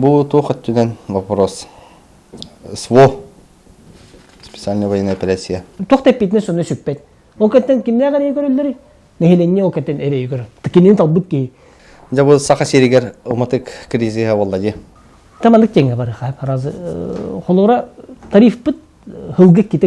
Бу туох өттүнэн вопрос? СВО специальная военная операция. Туох да эппитинэ сонно сүппэт. Ол кэнтэн кимнээх эрэйи көрөллөр? Нэһилиэнньэ ол кэнтэн эрэйи көрө. Кинини талбыт киһи. Дьэ бу саха сиригэр уматык кризиһа болла ди. Таманнык теҥе барыха. Раз холора тарифпыт хылгы ките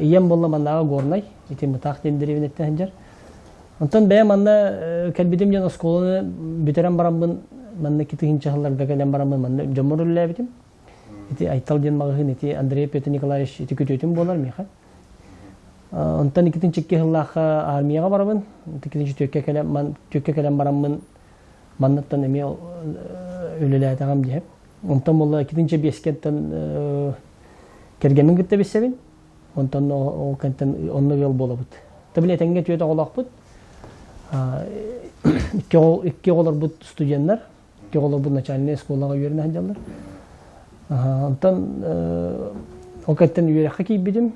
ийэм буолла маннааҕы горнай итин бытаах диэн деревняттан сылдьар онтон бэйэм манна кэлбитим диэн оскуоланы бүтэрэн бараммын манна ити тыһыынча сылларга кэлэн бараммын манна дьоммор үлэлээбитим ити айтал диэн маҕаһыын ити андрей петр николаевич ити күтүөтүм буолар миэхэ онтон иккитинчи икки сыллаахха армияҕа барабын иккитинчи түөккэ кэлэн түөккэ кэлэн бараммын манныттан эмиэ үлэлээтэҕим диэһэм Онтон була иккитинчи биэскэнтэн кэргэммин кытта билсэбин. Онтон ол кэнтэн онно ыал буолабыт. Табили этенге түөт оҕолоохпут. Икки оҕолорбут студеннар, икки оҕолорбут начальный школаға үөрүнэ сылдьаллар. Онтон ол кэнтэн үөрэххэ киирбитим.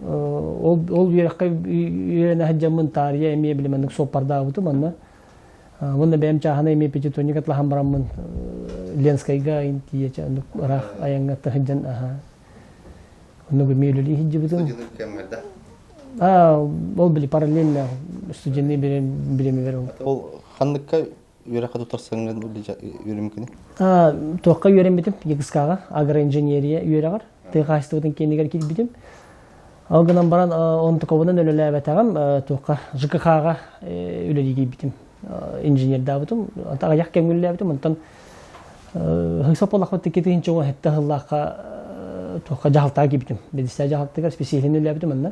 ол ол үөрэххэ үөрэнэ сылдьаммын таарыйа эмиэ били маннык суоппардаабытым онно уонна бэйэм чааһына эмиэ пятитонник атлаһан бараммын ленскайга тиийэ оннук ыраах айаҥҥа сылдьан аhaa оннук эмиэ үлэлии сылдьыбытым а ол били параллельно студенный бириэмэбэр ол ханныкка үөрэххэ тутарсаҥҥын үөрүмкүнү? Туохха үөрэммитим ЕГСК-га агроинженерия үөрэҕэр тыа хаһаайыстыбатын киинигэр киирбитим. Ол гынан баран онтуковунан үлэлээбэтэҕим туохха ЖКХ-га үлэлии киирбитим. Инженердаабытым, аҕыйах кэмҥүллээбитим, онтон хыйсаппалахпыт тикки тыһынча оҥо хэтtä хыллаахха туохха дьаһалтаҕа киирбитим. Бэдистээ дьаһалтыгар специалин үлэлээбитим онно.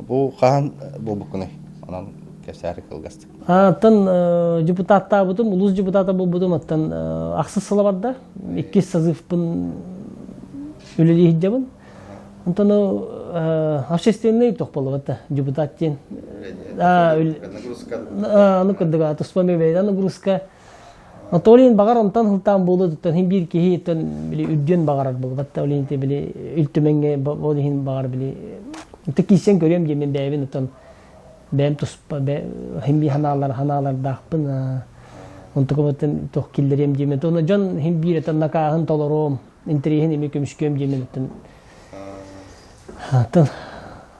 Бу хаһан буолбуккунуй? Онон кэпсээри кылгастык. Оттон депутаттаабытым, улуус депутата буолбутум, оттон ахсыс сыла барда. Иккис сазывпын үлэлей иһдябын. Онтону общественный тохполовата депутат диэн. А, ну кырдыга, туспа мебель нагрузка Анатолийын баҕар онтон сылтаан буолуо туттан син биир киһиттэн били үрдүөн баҕарар буолбат да олин ити били үлтүмэҥҥэ ол иһин баҕар били ити киисен көрүөм диэмин бэйэбин оттон бэйэм туспа бэ син биир ханаалар ханаалардаахпын онтукабаттан туох киллэриэм диэмин туонна дьон син биир этэн накааһын толоруом интэриэһин ими көмүскүөм диэмин оттон атын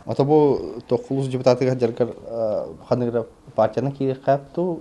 ото бу токкулус депутатыгар жаргар ханыгыра партияны киирхээпту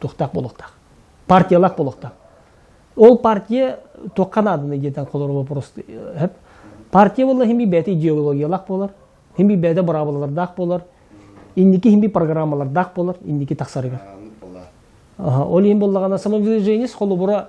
тухтах буолуохтаах партиялаах буолуохтаах ол партия туохха нааданы диэтэн холору вопрос сөп партия буолла химби бэйэтэ идеологиялаах буолар химби бэйэтэ быраабылалардаах буолар инники химби программалардаах буолар инники тахсарыгар ол иһин боллагана самовыдвижениес холобура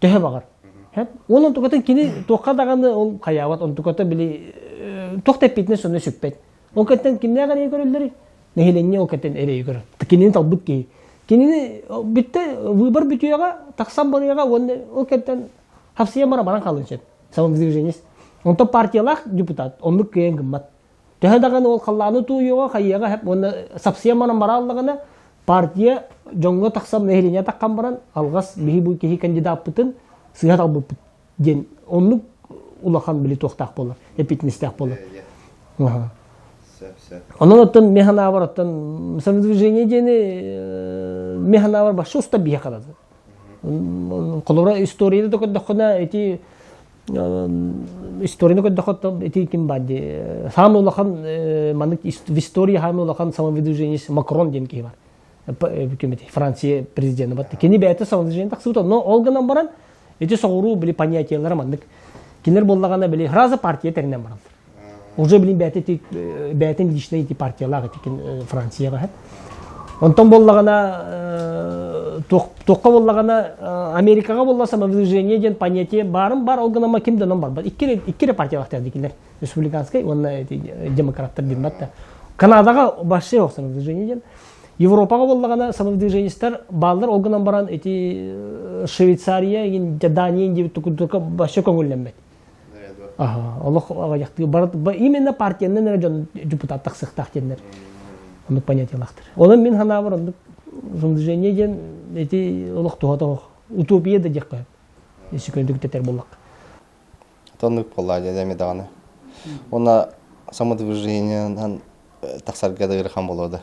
төһө баҕар ол онтукатын кини туохха даҕаны ол хайаабат онтуката били туох да эппитинэ сонно сүппэт ол кэнтэн кимнээх эрэйи көрөллөрүй нэһилиэнньэ ол кэнтэн эрэйи көрөр кинини талбыт киһи кинини бүтте выбор бүтүөҕэ тахсан барыаҕа уонна ол кэнтэн хапсыйан баран баран хаалын сөп самодвиженец онтон партиялаах депутат оннук кыайан гыммат Төһө даҕаны ол халлааны тууйуоҕа, хайыаҕа хеп уонна сапсыйан баран барааллаҕына, партия дьоҥҥо тахсан, нэһилиэнньэ таххан баран, алҕас биһи бу киһи кандидаппытын сыыһа талбыппыт диэн оннук улахан били туохтаах буолар, эпитинестээх буолар. Онон оттон механавр оттон самодвижение диэни механавр башта уста биһэ холобура историяны да көрдөххүнэ ити историяны көрдөххө ити ким бар ди самый улахан маннык в истории самый улахан самовыдвиженец макрон диэн киһи бар бүкем эти франция президенти бар кини бэйэтэ самовыдвижение тахсыбыта но ол гынан баран ити соҕуруу били понятиелара маннык кинилер боллагана били сразу партия тэринэн баран уже билин бэйэтин бэйэтин личнэй ити партиялаах этикин франция баһат онтон боллагана туохха боллагана америкаға болла самовыражение диэн понятие барын бар ол гынан ким дэнон барбат икки икки партия бахтар дикилер республиканскай уонна демократтар дин батта канадаға вообще ох самовыражение диэн европаға боллагана самовыражениестер баллар ол гынан баран эти швейцария дания деп только вообще көңілленбеді олох аҕыйахтыы бары именно партиянан эрэ дьон депутаттах сыхтаах диэннэр оннук понятиялаахтар онон мин санаабар оннук движение диэн эти олох туһата утопия да диэххэ сөкөндүк тэтэр буллак тоннук болла дәме даҕаны она самодвижениенан тахсарга да хан болода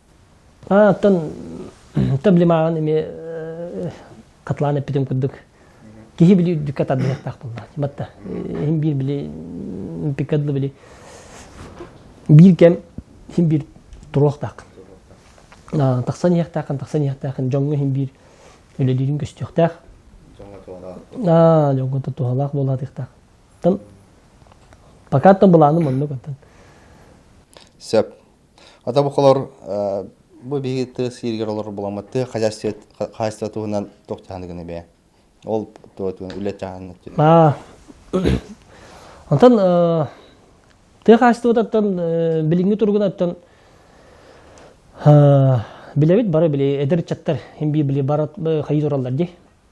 Оттон таблимаҕын эмиэ хатылаан эппитим курдук киһи били үрдүккэ тардыһыахтаах буолла. Батта иһин биир били пикадл били биир кэм иһин биир туруохтаах. Тахсан иһиэхтээххин, тахсан иһиэхтээххин дьоҥҥо иһин биир үлэлиирин көстүөхтээх. Аа, дьоҥҥо туһалаах буолаатыахтаах. Оттон пока то быланым оннук оттон. Сөп. Ата букалор бу биһиги тыа сииригэр олор буламмыт тыа хаһайыстыба туһунан тох чаһаны гына бээ. Ол туһатыгын үлэ чаһаны. Онтон тыа хаһайыстыбататтан билиҥҥи тургунаттан билэбит бары били эдэр чаттар химби били барат хайы тураллар ди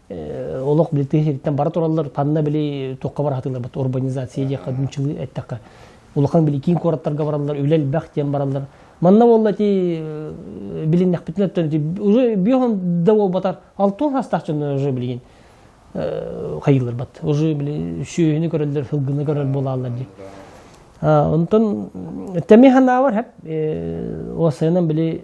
олох билтиһи сириттэн бара тураллар танна били туохха бара хатылар бат урбанизация диэхха дунчылы эттэххэ улахан били киин куораттарга бараллар үлэ элбэх диэн бараллар манна буолла ти билиннэхпитинэ уже биоһон да болбатар алтын хастаах дьонно уже билигин хайылар бат уже били шүөһүнү көрөллөр фылгыны көрөл буолаллар ди онтон тэми ханавар хеп осынан били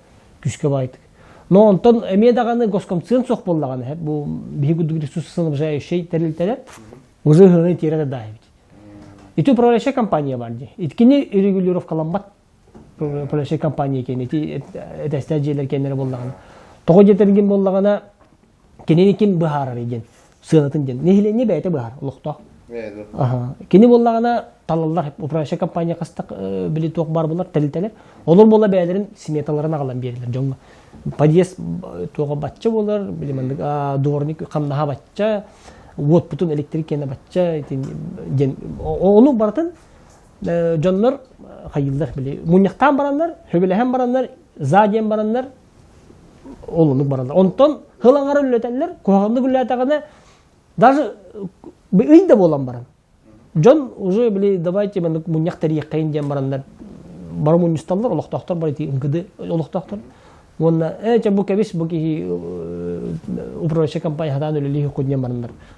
күүскэ баайтык но онтон эмиэ даҕаны госкомцион суох буоллаҕына бу биһиги курдук ресурсоснабжающий тэрилтэлэр вжыһыны тиэрэ даайбит ити управляющая компания бар ди иткини регулировкаламмат управляющая компания киэн ити этэстээх дьиэлэр киэннэрэ буоллаҕына тоҕо диэтэргин буоллаҕына кинини ким быһаарарый диэн сыанатын диэн нэһилиэнньэ бэйэтэ быһаар олохтоох кини буоллаҕына талаллар управляющай компания хастак били туох баар булар тэрилтэлэр олор буола бэйэлэрин сметаларын аҕалан биэрэлэр дьоҥҥо подъезд туоха бачча болар били маннык дворник хамнаһа бачча уотпутун электрик киэнэ бачча диэн ону барытын дьоннор хайыыллар били мунньахтаан бараннар сөбүлэһэн бараннар за диэн бараннар олуннук барандар онтон хыл аҥара үллэтэллэр куһаҕаннык үллээтэҕинэ даже ый да буолан баран дьон уже били давайте маны мунньах тэрийэххэйин диэн бараннар бары мунньусталлар олохтоохтор бары МКД олохтоохтор уонна ээ бу кэбис бу киһи управляющай компания хатаан үлэлии хуккун диэн бараннар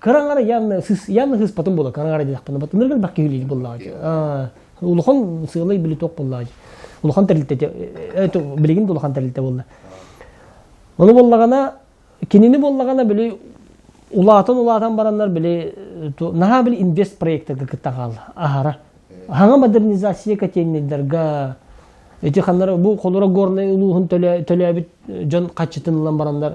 Караңара яны сыс яны сыспатын була караңара дедахпына батыныргын бак киһилиир буллаҕа. Улахан сыалай биле тоқ буллаҕа. Улахан тэрилтэ это билигин улахан тэрилтэ болла. Оны боллагана кинини боллагана били улаатан улаатан бараннар били наха били инвест проектага кыттаҕал аһара. Хаҥа модернизация катеннейдерга эти ханнар бу холура горнай улууһун төлөөбүт дьон хаччытынылан бараннар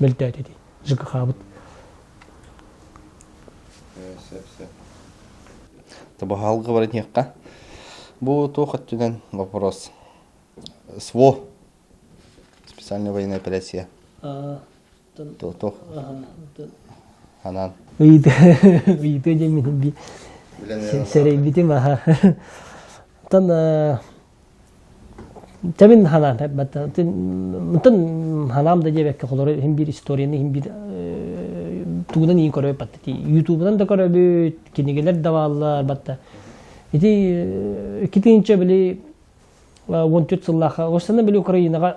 мөлтөөт ити ЖКХ-быт. Сөп-сөп. Табаһалга бар этиэххэ. Бу туох өттүнэн вопрос. СВО специальная военная операция. Туох? Ханан? Ыйды, ыйды дэмин би. Сэрейбитим аха. Тан Тэбин ханаан мынтан ханаам да диэбэккэ холоро иһин биир историяны иһин биир тугунан иин көрөбүт батта ютубунан да көрөбүт кинигэлэр да бааллар батта ити китинчэ били он төрт сыллаха осана били украинаға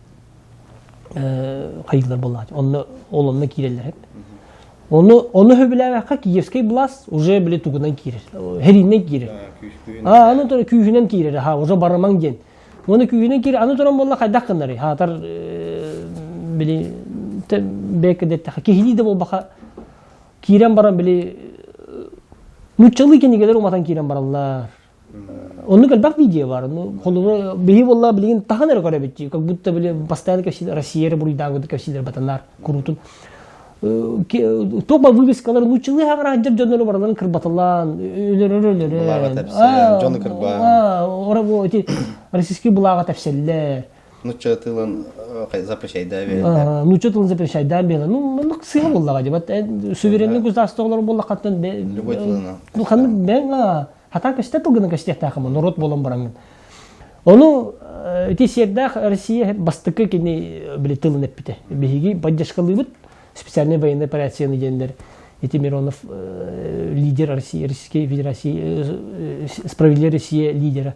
хайыылар буоллаҕа онно ол онно киирэллэр оны оны сөбүлээбэххэ киевский блас уже били тугунан киирэр хериннен киирэр а аны тура күүһүнэн киирэр ха уже барамаң диэн оны күүһүнэн киирэр аны туран болла хайдах гыннарый хаатар били бэкке деттэхэ киһилии да буолбаха киирэн баран били нуччалыы кенигелер уматан киирэн бараллар Оннук элбэх видео бар. Холугу биһи болла билигин тахан эрэ көрөбүтчи, как будто били постоянно кэпсиилэр Россия буруйдааҕы курдук кэпсиилэр батанар куруутун. Топ вывескалар лучылы хаграджар дьоннору барыларын кырбатылан, өлөрөрөлөрө. Дьону кырба. Ора бу эти российский булаага тапсаллар. нучча тылын запрещайдаа биэрдэ. нучча тылын запрещайдаа биэрдэ. Ну, маннык сыа буллаҕа дебат. суверенный государство олорор буллахаттан любой тылынан. Ну, ханнык бэҥа хата көстө тылгынан көстиэхтээхэмэ норуот буолан бараҥын. Ону ити сиэрдээх Россия бастыкы кини били тылын эппите. Биһиги поддержкалыыбыт специальный военный операцияны диэнлэр эти Миронов лидер России, Российской Федерации, справедливая Россия лидера.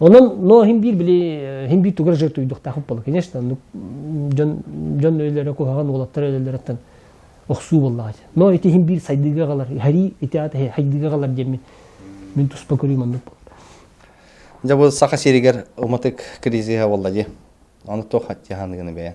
Онон но хин биир били хин биир тугар жер туйдуктаах болла конечно ну дьон дьон өлөлөрө куһаган уолаттар өлөлөрөттөн охсуу боллаҕа но ити хин биир сайдыыга галар хари ити аты хайдыыга галар диэмин мин туспа көрүү маннык болду дьэ бу саха сиригэр уматык кризиһа болла ди аны туох хаттиаханыгыны бэйэн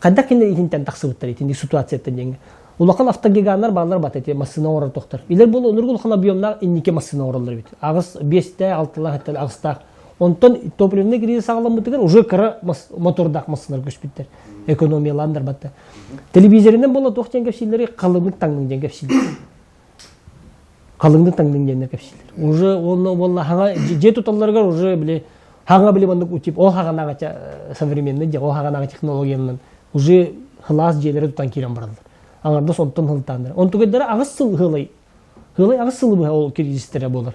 Хайдах кинилэр иһинтэн тахсыбыттар итинник ситуацияттан диэҥҥэ улахан автогиганнар бааллар бата ити массыына оҥорор тохтор илэр буол онурга улахан объемнаах инники массыына оҥороллор эбит аҕыс биэстээх алтылаах эттэл аҕыстаах онтон топливный кризис ааламмытыгар уже кыра мотордаах массыыналар көспүттэр экономиялаан барбатта телевизоринен буола туох диэн кэпсииллэри халыҥнык таҥның диэн кэпсииллэр халыҥны таҥнын диэннер кэпсиилэр уже уолла уолла хаҥа дьиэ туталларыгар уже били хаҥа били маннык утип ол хаҕанааҕача э, современный дьэ ол хаҕанааҕы технологиянан уже хылаас дьиэлэри тутан киирэн бараллар аҥардас онтон хылтааннар онтугайдара аҕыс сыл хылай хылай аҕыс сыл быһа ол кризистэрэ буолар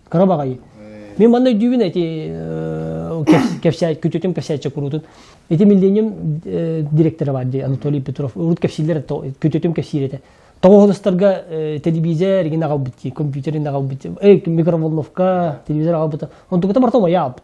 кыра баҕайы мен манна өйдүүбүн эти кэпсээт күтүтүм кэпсээтчэ куруутун ити миллением директора бар дии анатолий петров урут кэпсииллэр күтүтүм кэпсиир этэ тоҕоһолостарга телевизор игин аҕалбыт дии компьютер ин аҕалбыт микроволновка телевизор аҕалбыта онтукута мартом аябыт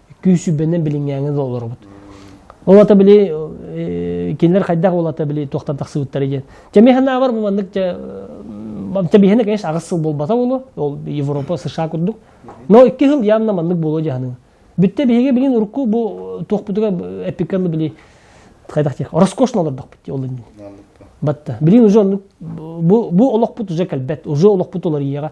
күүсүбэнэн билиҥҥээҥи да олоробут ол ата били э, кинилэр хайдах ол ата били туохтан тахсыбыттара диэн чэми ханаабар бу маннык чэбиһэни конечно аҕыс сыл буолбата ол ол европа сша курдук но икки сыл яанна маннык буолуо дьаһаныга бүтте биһиги билин урукку бу туохпутуга эпиккалы били хайдах тех роскошно олордохпут ол батта билин уже бу бу олохпут уже кэлбет уже олохпут олар ийэҕэ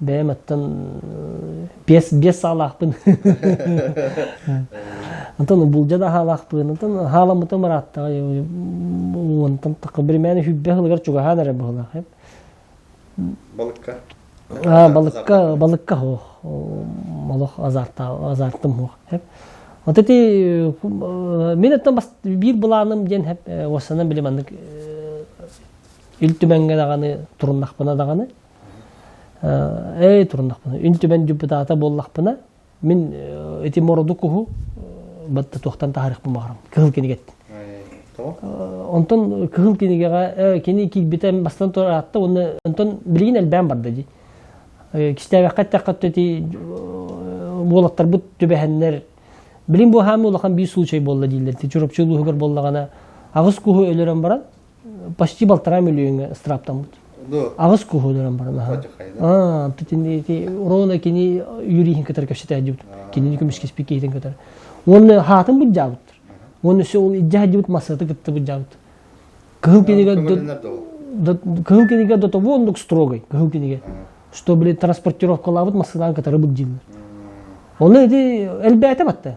бэйэм оттон биэс биэс саалаахпын онтон булдьа да хаалаахпын онтон хааламмытым ырааттаҕа онтон такка биримээн хүббэ хылыгар чугаһаан эрэ быһылаах балыкка а балыкка балыкка ох олох азарта азартым ох хеп вот эти мен оттон бас биир былааным диэн хеп осанан билим аннык ил түмэнге даҕаны туруннахпына даҕаны Эй туруннахпына, үн түмэн депутата буоллахпына, мин ити мороду куһу батта туохтан таһарыхпын баҕарам кыһыл кинигеттин онтон кыһыл кинигэҕэ кини киирбитэ бастан тураатта уонна онтон билигин элбээн барда дии кистээбэххэ эттэххэ ти уолаттарбыт түбэһэннэр билим бу хаамы улахан биир случай буолла дииллэр ти чурапчы улууһугар боллагана аҕыс куһу өлөрөн баран почти балтараа миллиоҥҥа ыстырааптаммыт аҕыс куһуунуран баран ити уруона кини юриһин кытары кэпсэтээдибит кинини көмүскэспит киһитин кытары уонна хаатын буддьаабыттар уонна өссө ол илдьэ саддьыбыт массыыты кытта буддьаабыт кыһыл кинигэ кыһыл кинигэ до того оннук строгой кыһыл кинигэ чтобы транспортировкалаабыт массыылаан кытары бык дьииллэр оны ити элбээтэ батта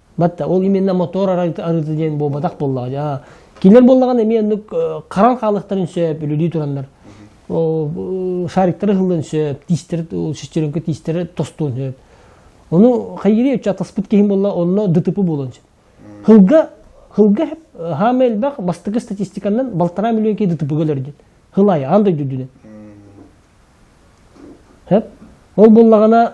батта ол именно мотор арыыта диэн буолбатах буоллаҕа дьа кинилер буоллаҕына эмиэ оннук харан хаалыахтарын сөп үлүлүү тураннар шариктары хыллын сөп тиистер шестеренка тиистер тостуон сөп ону хайгири өчө атаспыт киһим болла онно ДТП болон сөп хылга хылга хаама элбэх бастакы статистиканнан балтараа миллион кей ДТП гэлердин хыл айы андай дүйдүнен ол боллагана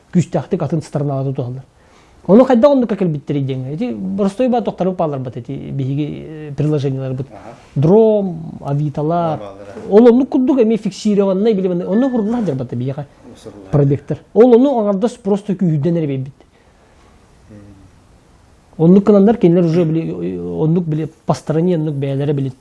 күүстээхтик атын сторонаҕа да туталлар. Ону хайдах оннукка кэлбиттэрий диэҥҥэ? Ити боростуой баа тохтору пааларбат эти биһиги приложенияларбыт. Дром, авиталар. Ол оннук курдук эми фиксированнай билебэннэй. Онно хуруллар дьарбатта биһиэхэ пробектор. Ол ону аҥардас просто күүһүдэн эрэ бэйбит. Оннук кыланнар кинилэр уже били оннук били постарани оннук бэйэлэрэ билин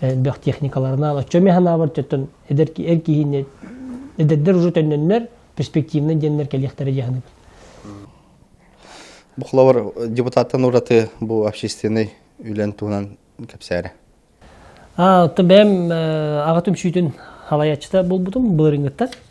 элбэх техникаларынан оччо эмиэ санаабар төттөн эдэр эр киһини эдэрдэр уже төннөннөр перспективнай диэннэр кэлиэхтэрэ дьаһаныбыт Бухловар депутаттан ураты бу общественный үлэн туһунан кэпсээрэ. А, бэйэм аҕатым сүүтүн халаячыта болбутум былырынгыттар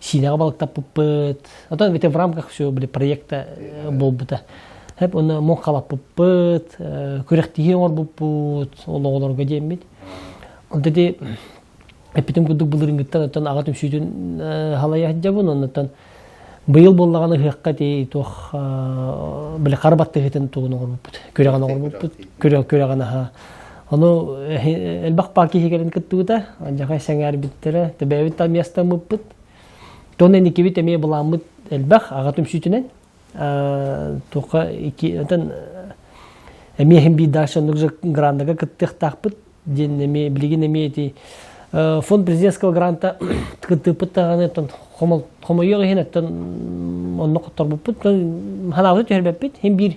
Сиинэҕэ балыктаппыппыт. Оттон битин в рамках все были проекта буолбута. Хэп уна мон халаппыппыт, күрэхтиһии оҥорбуппут ол оҕолорго диэммит. Онтати эппитим курдук былырынгыттан оттон аҕа түмсүүтүн халайа сылдьабын оннуттан быйыл буоллаҕына ыһыахха тии туох били хара баттыһытын тугун оҥорбуппут күрэҕин оҥорбуппут күрэ күрэҕин аха Ону элбэх паа киһигэрин кыттыбыта, дьаҥай сэҥээрбиттэрэ, төбөбүт та миэстаммыппыт. Тоннен иккибит эмиэ былааммыт элбэх аҕатым сүүтүнэн. Туха iki отон эмиэхин бии дальше уже грандага кыттыахтаахпыт диэн эмиэ билигин эмиэ ити фонд президентского гранта кыттыппыт даҕаны оттон хомойуох иһин оттон онно хотторбуппут ханаабыты түһэрбэппит хин биир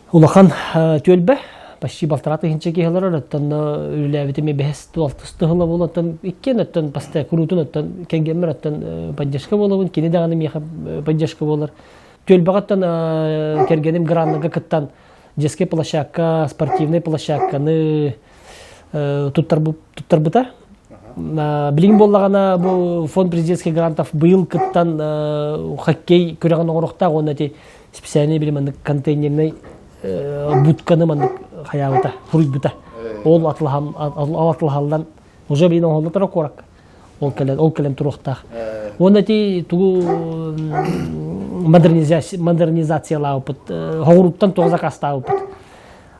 Улахан түөлбэ почти балтараа тыһыынча киһи олорор, оттон үлэлээбитим бэһис туалтыс тыһыла буол, оттон иккиэн оттон баста куруутун оттон кэргэммэр оттон поддержка буолабын, кини даҕаны миэхэ поддержка буолар. Түөлбэҕэттэн кэргэним граннарга кыттан детскай площадка, спортивнай площадканы туттарбыта. Билигин боллағана бұл фонд президентский грантов быйыл кыттан хоккей күрәғін оғырықтағы оны специальный били маннык контейнернай будканы маннык хаyaабыта суруйбута ол атлаһаллан уже бийин оһоллотора куоракка ол кэлен ол кэлен туруохтаах уонна ти тугу модернизациялаабыппыт хоҕуруттан туга закастаабыппыт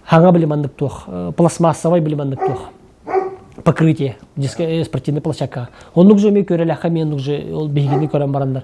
хаҥа били маннык туох пластмассовай били маннык туох покрытие спортивный площадкаға оннук же ме көреләхе мен уже ол биһигини көрөн бараннар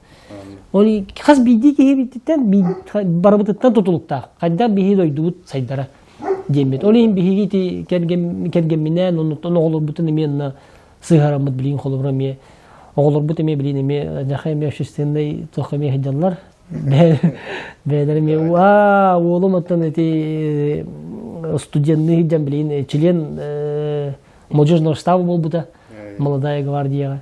Ол хас биирдии киһи биттиттэн барыбытыттан тутулуктаах. Хайдах биһи дойдубут сайдара диэммит. Ол иһин биһиги кэргэмминээн оннуттан оҕолорбутун эмиэ сыһараммыт билиин холобура эмиэ оҕолорбут эмиэ билиин эмиэ дьаха эмиэ общественный туохха эмиэ сылдьаллар бэйэлэр эмиэ аа уолум оттон эти студенный сылдьан билиин член молодежного штаба буолбута молодая гвардияҕа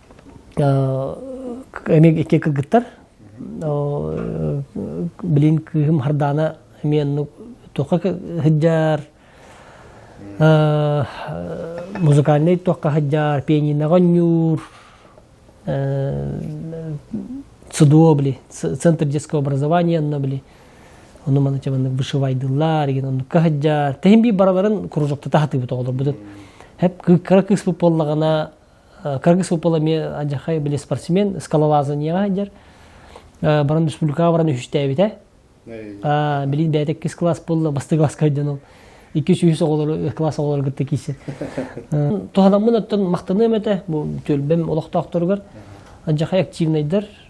Эми икки кыргыттар билин кыыһым хардаана эмиэ оннук туохха сылдьар музыкальнай туохха сылдьар пианиноҕа оонньуур ЦДО били центр детского образования онно били ону маны маннык вышивайдыллар игин оннукка сылдьар тэһин бии барыларын кружокта таһатыыбыт оҕолорбутут хэп кыра кыыспыт буоллаҕына кыргыс выпала эмиэ адьахай били спортсмен скалолазанияҕа сылдьар баран республикаҕа баран үһүстээбитэ билин бэйэтэ иккис класс буолла бастакы класска сылдьан ол иккис үһүс оҕолору класс оҕолору кытта киирсин туһаламмын оттон махтаныам этэ бу түөлбэм олохтоохторугар адьахай активнайдар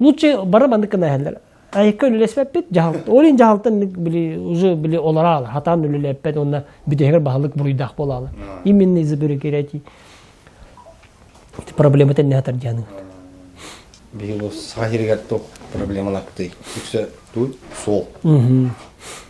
лучше бары маннык гына эһэллер айыкка үлэлэспэппит дьаһалт ол иһин дьаһалтан били уже били олара хатан үлэлэппэт онна бүтөһүгэр баһылык буруйдаах буолаалы именно из-за бюрократии проблема тенне хатар дьаныгыт биһиги бу саха сиригэр туох проблемалаахтый үксэ туу суол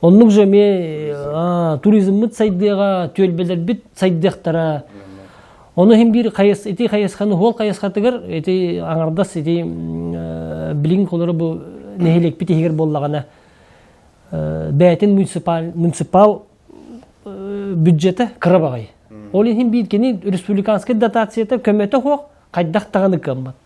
Оннук же эмиэ туризммыт сайдыаҕа, түөлбэлэрбит сайдыахтара. Ону иһин биир хайыс, ити хайысханы уол хайысхатыгар ити аҥардас ити билиҥ олору бу нэһилиэкпит иһигэр буоллаҕына бээтин муниципал муниципал бюджета кыра баҕайы. Ол иһин биир кини республиканскай дотацията көмөтө суох хайдах даҕаны кыаммат.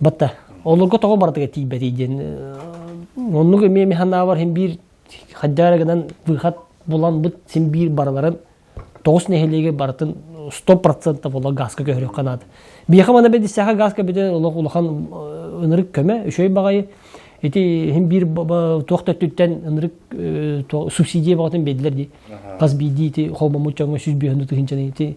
Бата, олорго тоҕо барытыга тиийбэтий диэн оннук эмиэ ми санаабар син биир хадьаара гынан выход булан быт син биир барыларын тоҕус нэһилиэгэ барытын сто процентов ола газка көһөрүөх канаат биэха мана бэдиссэхэ газка бүтэн олох улахан ынырык көмө үчөй баҕайы ити син биир туох төттүттэн ынырык субсидия баҕатын бедилер ди хас биирдии ити холбоммут чоҥҥо сүс биһөннү тыһынчаны ити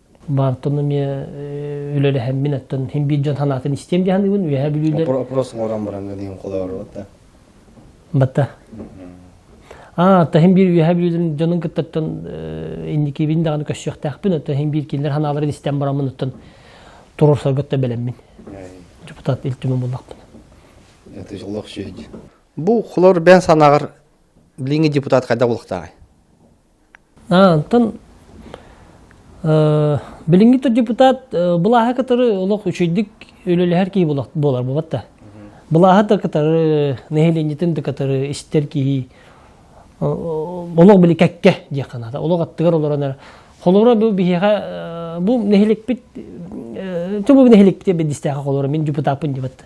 баантон эмиэ үлэлэһэммин оттон хин биир дьон санаатын истиэм дьаһаныгын үөһэ бүлүүлэр опрос оҥорон баран диэн холоору да батта а таһин биир үөһэ бүлүүдүн дьонун кыттаттан инникибин даҕаны көссүөхтээхпин оттон хин биир кинилэр санааларын истэн бараммын оттон турурсаргытта бэлэммин депутат илтимин буллахпын это бу холор бен санаҕар билиҥҥи депутат хайда булуктааҕай Онтон билиҥҥи депутат былааһы кытары олох үчэйдик үлэлэһэр киһи буолар буолбат да. Былааһы да кытары, нэһилиэнньэтин да кытары истэр киһи олох били кэккэ диэх ханаата. Олох аттыгар олорон холоро бу биһиэхэ бу нэһиликпит Чубу нэһиликпит бэдистээхэ холоро мин депутаппын дебатта.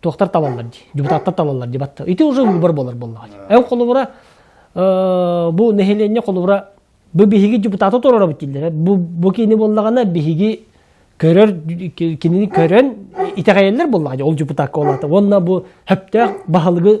туохтар талаллар дии депутаттар талаллар дии батта ити уже уубар буолар буоллаҕа дии эн холобура бу нэһилиэнньэ холобура бу биһиги депутаты туруора бит бу бу кини буоллаҕына биһиги көрөр кинини көрөн итэҕэйэллэр буоллаҕа ол депутакка олата уонна бу хөптөөх баһылыгы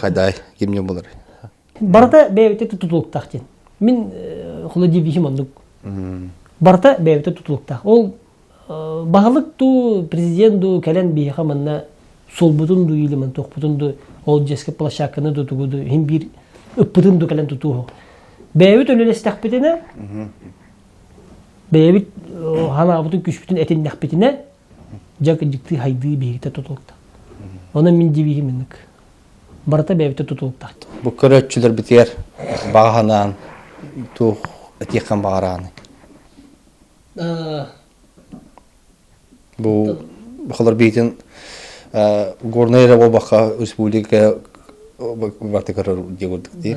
хадай кимне болар барыта бэйэбитэ тутулуктаах диэн мин холодильнигим оннук барыта бэйэбитэ тутулуктаах ол баһылык дуу президент дуу кэлэн биһиэхэ манна солбутун дуу илимин тохпутун дуу ол дьэски площадканы дуу тугу дуу иһин биир ыппытын дуу кэлэн тутууһу бэйэбит үлэлэстэхпитинэ бэйэбит ханаабытын күшпүтүн этиннэхпитинэ Дьэ, дьиктии хайдыы биһигитэ тутулукта. Онон мин дивиһим инник. Барыта бэйэбитэ тутулуктаахтар. Бу көрөөччүлэрбитигэр баҕа санаан туох этиэххин баҕарааны? Бу холор биитин горнай эрэ буолбакка республика барты көрөр дии курдук дии.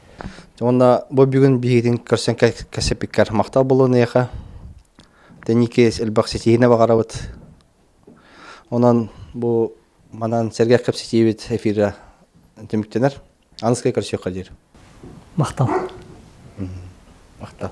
Уонна бу бүгүн биһигитин көрсөн кэпсэппиккэр махтал буолуоныйаха тэнникээс элбэх ситиһинэ баҕарабыт онон бу манан сэргэх кэпсэтиибит эфира түмүктэнэр аныскай көрсүөххэ диир махтал махтал